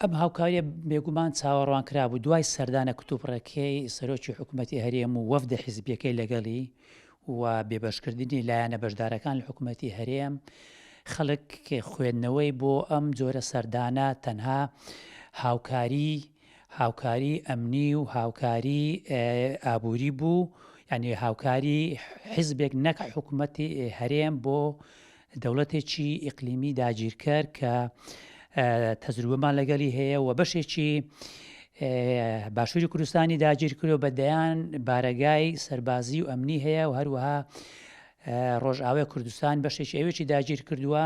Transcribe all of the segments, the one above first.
ئەم هاوکارییە بێگومان چاوەڕوانکرابوو دوای سەردانە کتوپڕەکەی سەرۆکی حکومەتی هەرێم و وەفدە حیزبییەکەی لەگەڵی و بێبەشکردنی لایەنە بەشدارەکان لە حکومەتی هەرێم، خەڵک خوێندنەوەی بۆ ئەم جۆرە سەردانە تەنها هاوکاریی هاوکاریی ئەمنی و هاوکاریی ئابووری بوو، یانی هاوکاریی حیزبێک نەک حکومەتی هەرێم بۆ دەوڵەتێکی ئیقلیمی داگیرکەر کە تەجروبەمان لەگەلی هەیە و بەشێکی باشووری کوردستانی داگیرکرۆ بە دەیان بارەگای سەربازی و ئەمنی هەیە و هەروەها ڕۆژئاوای کوردستان بەشێکی ئەوێکی داگیر کردووە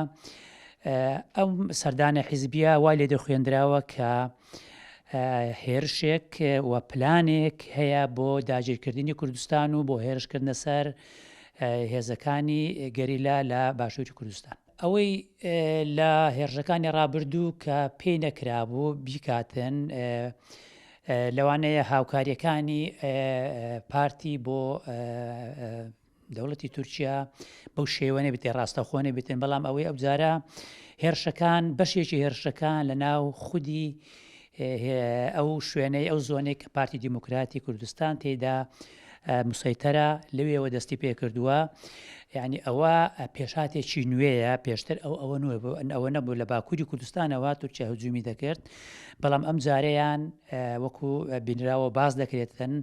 ئەم سەردانە حیزبیە وای لێ دەخوێندراوە کە هێرشێک و پلانێک هەیە بۆ داگیرکردنی کوردستان و بۆ هێرشکردنە سەر هێزەکانی گەریلا لە باشووری کوردستان ئەوەی لە هێرشەکانی ڕابردوو کە پێی نەکرابوو بیکاتن لەوانەیە هاوکاریەکانی پارتی بۆ دەوڵەتی تورکیا بەو شێوەێ بێتێ ڕاستەخۆ نەبێتن بەڵام ئەوەی ئەو جارە هێرشەکان بەشێکی هێرشەکان لە ناو خودی ئەو شوێنەی ئەو زۆنێک کە پارتی دیموکراتی کوردستان تێدا مسەیتەرە لەوێەوە دەستی پێ کردووە یعنی ئەوە پێشاتێکی نوێیە پێشتر ئەو ئەوە نوێ بوو ئەن ئەوە نەبوو لە باکووری کوردستانەوە تورکیا هجومی دەکرد بەڵام ئەم جارەیان وەکو بینراوە باز دەکرێتن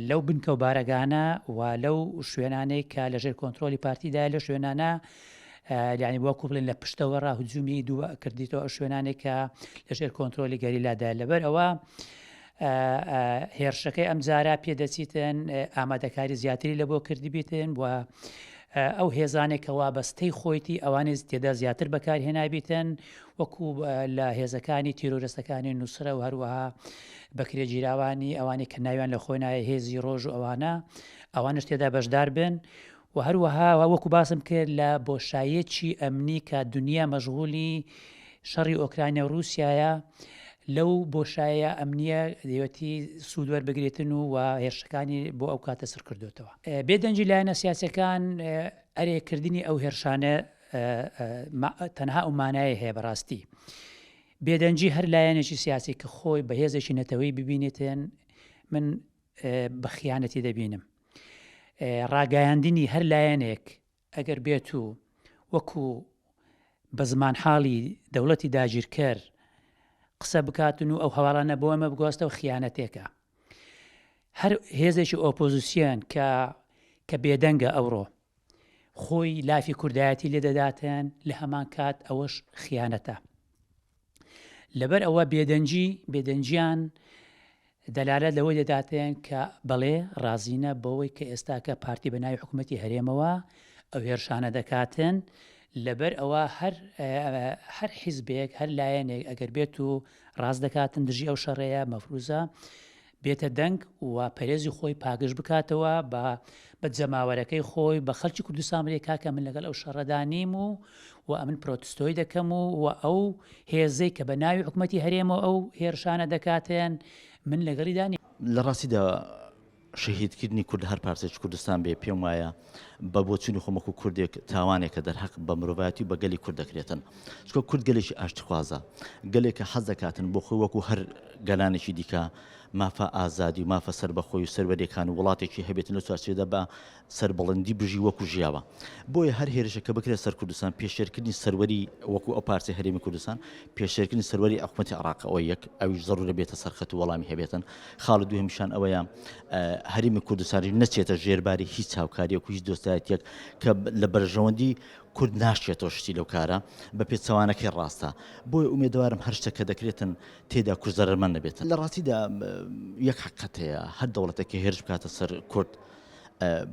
لەو بنکە و بارەگانە و لەو شوێنانەی کە لە ژێر کۆنتترۆلی پارتیدا لە شوێنانە لانی بۆ کوڵێن لە پشتەوە ڕا هجومی دوو کردیتەوە ئەو شوێنانێک کە لە ژێر کۆنتترۆلی گەریلادا لەبەر ئەوە هێرشەکەی ئەم جارە پێدەچیتن ئامادەکاری زیاتری لە بۆ کردبیتن و ئەو هێزانێکەوە بەستەی خۆیتی ئەوانێز تێدا زیاتر بەکارهێنابیتن وەکو لە هێزەکانی تیرۆرستەکانی نوسرە و هەروەها بەکرێگیراوانی ئەوانەی کە ناویان لە خۆی نایە هێزی ڕۆژ و ئەوانە ئەوانش تێدا بەشدار بن و هەروەها وەکو باسم کرد لە بۆشایەکی ئەمنی کە دنیا مەشغولی شەڕی ئۆکرانیا و رووسایە لەو بۆشایە ئەمنیە دەوەتی سوودوەەر بگرێتن و و هێرشەکانی بۆ ئەو کاتە سڕ کردوێتەوە بێدەنجی لایەنە سیاسەکان ئەرێکردنی ئەو هێرشانە تەنها ئەو مانایە هەیە بەڕاستی بێدەنجی هەر لایەنێکی سیاسی کە خۆی بە هێزێکی نەتەوەی ببینێتێن من بە خیانەتی دەبینم ڕاگەیاندنی هەر لایەنێک ئەگەر بێت و وەکو بە زمان حاڵی دەوڵەتی داگیرکەر قسە بکاتن و ئەو هەواڵانە بۆ ئەمە بگۆستە و خیانەتێکە هەر هێزێکی ئۆپۆزیسیۆن کە کە بێدەنگە ئەوڕۆ خۆی لافی کوردایەتی لێ دەداتێن لە هەمان کات ئەوەش خیانەتە لەبەر ئەوە بێدەنجی بێدەنجیان دەلالە لەوەی دەداتێن کە بەڵێ ڕازینە بەوەی کە ئێستاکە پارتی بە ناوی حکوومەتتی هەرێمەوە ئەو هێرشانە دەکاتن لەبەر ئەوە هەر هەر حیزبێک هەر لایەنێک ئەگەر بێت و ڕاست دەکاتن دژی ئەو شەڕەیە مەفروزە بێتە دەنگ و پەرێزی خۆی پاگژ بکاتەوە بە بە جەماوەرەکەی خۆی بە خەلکی کوردستان بلێ کاکە من لەگەل ئەو شەرەدا نیم و و ئەمن پرۆتستۆی دەکەم و و ئەو هێزەی کە بە ناوی حکومەتی هەرێمەوە ئەو هێرشانە دەکاتێن من لەگەڵیدا نیم. لە ڕاستیدا شەهیدکردنی کورد لە هەر پارچەیەکی کوردستان بێ پێم وایە بە بۆچونی خۆم وەکو کوردێک تاوانێک کە دەرهەق بە مرۆڤایەتی و بە گەلی کورد دەکرێتن چکە کورد گەلێکی ئاشتخوازە گەلێک کە حەز دەکاتن بۆ خۆی وەکو هەر گەلانێکی دیکە مافە ئازادی و مافە سەر بەخۆی و سەروەریەکان و وڵاتێکی هەبێت لە چوارچێدا بە سەربڵندی بژی وەکو ژیاوە بۆیە هەر هێرشە کە بکرێت سەر کوردستان پێشێرکردنی سەروەری وەکو ئەو پارچە هەرێمی کوردستان پێشێرکردنی سەروەری ئەحکومەتی عراق ئەوە یەک ئەویش زەڕورە بێتە سەرخەت و وەڵامی هەبێتن خاڵی دووهەمیشان ئەوەیە هەرێمی کوردستانیش نەچێتە ژێرباری هیچ هاوکاریەک و هیچ دۆستایەتێک کە لە بەرژەوەندی کورد ناشێتەوە شتی لەو کارە بە پێچەوانەکەی ڕاستە بۆی ئومێدەوارم هەر شتەکە دەکرێتن تێدا کورد زەرمەند نەبێت لە ڕاستیدا یەک حقەت هەیە هەر دەوڵەتەکە هێرش بکاتە سەر کورد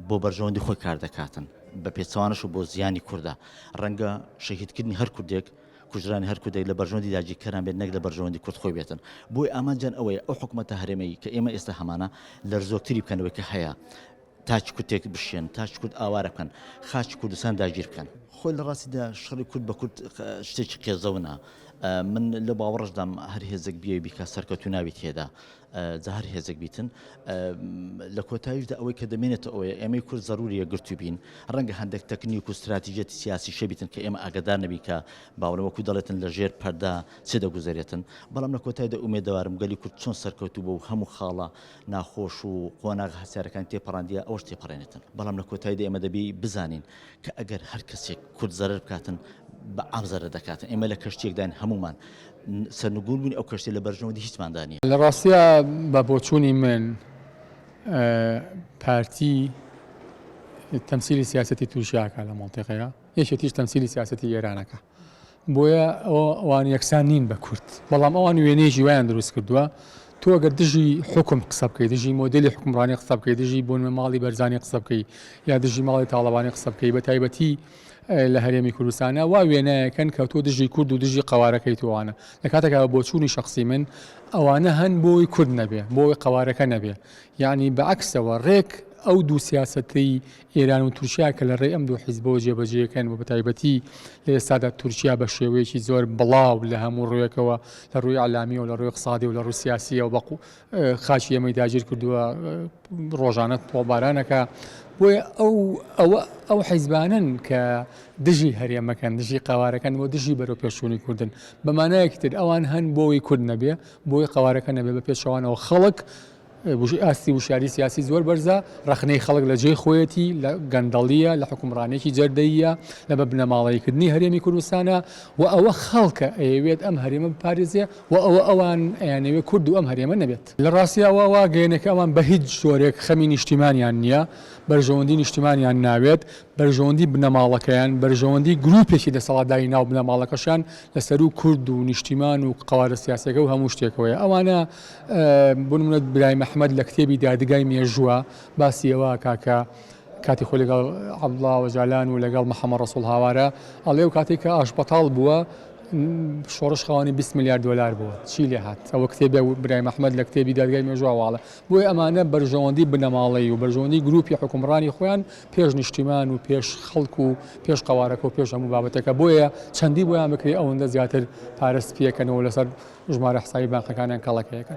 بۆ بەرژەوەندی خۆی کار دەکاتن بە پێچەوانش و بۆ زیانی کووردە ڕەنگە شەهیدکردنی هەر کوردێک کوژرانی هەر کوردێک لە بەرژەوەندی داگیرکەران بێت نەک لە بەرژەوەندی کورد خۆی بێتن بۆی ئامانجیان ئەوەیە ئەو حکومەتە هەرێمەی کە ئێمە ئێستا هەمانە لەرزۆکتری بکەن لەوەی کە هەیە تاچ کوتێک بشێن تاچ کورد ئاوارە بکەن خاچ کوردستان داگیر بکەن خۆی لە ڕاستیدا شەڕی کورد بە کورد شتێکی قێزەونە من لە باوەڕشدام هەر هێزێک بێ بیکە سەرکەوتو ناوی تێدا جا هەر هێزێک بیتن. لە کۆتاییشدا ئەوەی کە دەمێنێتە ئەوەیە ئێمەی کورد زەروری یەکگرتوو بین. ڕەنگە هەندێک تەکنیک و ستراتیژیەتی سیاسی شی بیتن کە ئێمە ئاگادار نەبین کە باوەڕێ وەکوو دەڵێتن لە ژێر پەردا چ دەگوزەرێتن. بەڵام لە کۆتایدا ئومێدەوارم گەلی کورد چۆن سەرکەوتوو بوو و هەموو خاڵە ناخۆش و قۆناغە هەستیارەکانی تێپەڕاندیە ئەوەش تێپەڕێنێتن. بەڵام لە کۆتاییدا ئێمە دەبی بزانین کە ئەگەر هەر کەسێک کورد زەرەر بکاتن بە عام زەرەر دەکاتن ئێمە لە کەشتیەکداین هەموومان سەرنگون بووین ئەو کەشتێ لە بەرژەوەندی هیچماندا نیە. لە ڕاستیا بە بۆچوونی من پارتی تەمسیلی سیاسەتی تورکیا ئەکا لە مەنتیقەیا یەکێتیش تەمسیلی سیاسەتی ئێران ئەکا. بۆیە ئەوان یەکسان نین بە کورد، بەڵام ئەوان وێنەیەکی وایان دروست کردووە، تۆ ئەگەر دژی حوکم قسە بکەی، دژی مۆدێلی حوکمڕانی قسە بکەی، دژی بۆنمە ماڵی بەرزانی قسە بکەی، یا دژی ماڵی تاڵەبانی قسە بکەی، بە تایبەتی لە هەرێمی کوردستانە، وا وێنایەکەن کە تۆ دژی کورد و دژی قەوارەکەیت و ئەوانە. لە کاتێکا بە بۆچوونی شەخسی من ئەوانە هەن بۆ ئەوەی کورد نەبێ، بۆ ئەوەی قەوارەکە نەبێ. یانی بە عەکسەوە، ڕێک ئەو دوو سیاسەتەی ئێران و تورکیا کە لە ڕێی ئەم دوو حیزبەوە جێبەجێکەن و بەتایبەتی لە ئێستادا تورکیا بە شێوەیەکی زۆر بڵاو لە هەموو ڕوویەکەوە لە ڕووی ئیعلامی و لە ڕووی ئیقتسادی و لە ڕووی سیاسییەوە بە خاکی ئێمەی داگیر کردووە ڕۆژانە تۆڵبارانەکە بۆیە ئەو ئەو حیزبانن کە دژی هەرێمەکەن دژی قوارەکەن و دژی بەرەو پێشوونی کوردن بەمانایەکی تر ئەوان هەن بۆی کورد نەبێ بۆی قوارەکە نەبێ بە پێچەوانەوە خەڵک ئاستی وشیاری سیاسی زۆر بەرزە، ڕەخنەی خەڵک لە جێی خۆیەتی، لە گەندەڵییە، لە حوکمڕانییەکی جەردەییە، لە بە بنەماڵەییکردنی هەرێمی کوردستانە و ئەوە خەڵکە ئەیەوێت ئەم هەرێمە بپارێزێ و ئەوە ئەوان ئەیانەوێ کورد و ئەم هەرێمە نەبێت. لە ڕاستییەوە وا گەیەنە کە ئەوان بە هیچ جۆرێک خەمی نیشتیمانیان نییە، بەرژەوەندیی نیشتیمانیان ناوێت، بەرژەوەندیی بنەماڵەکەیان، بەرژەوەندیی گرووپێکی دەسەڵاتداری ناو بنەماڵەکەشیان لە سەروو کورد و نیشتیمان و قەوارە سیاسییەکە و هەموو شتێکەوەیە. ئەوانە. بۆ نموونە برایم ئەحمەد لە کتێبی دادگای مێژووە باسی ئەوە ئەکا کە کاتی خۆی لەگەڵ عەبدوڵڵا ئۆجالان و لەگەڵ محەممەد ڕەسووڵ هاوارە ئەڵێ و کاتێک کە ئاشبەتاڵ بووە شۆڕش خاوەنی 20 میلیارد دلار بووە چی لێ هات ئەوە کتێبی برایم ئەحمەد لە کتێبی دادگای مێژواواڵە بۆیە ئەمانە بەرژەوەندی بنەماڵەی و بەرژەوەندی گروپی حکومڕانی خۆیان پێش نیشتیمان و پێش خەڵک و پێش قەوارەکە و پێش هەموو بابەتەکە بۆیە چەندی بۆیان بکرێت ئەوەندە زیاتر پارە سپیەکەنەوە لەسەر ژمارە حسابی بانقەکانیان کەڵەکەیەکە.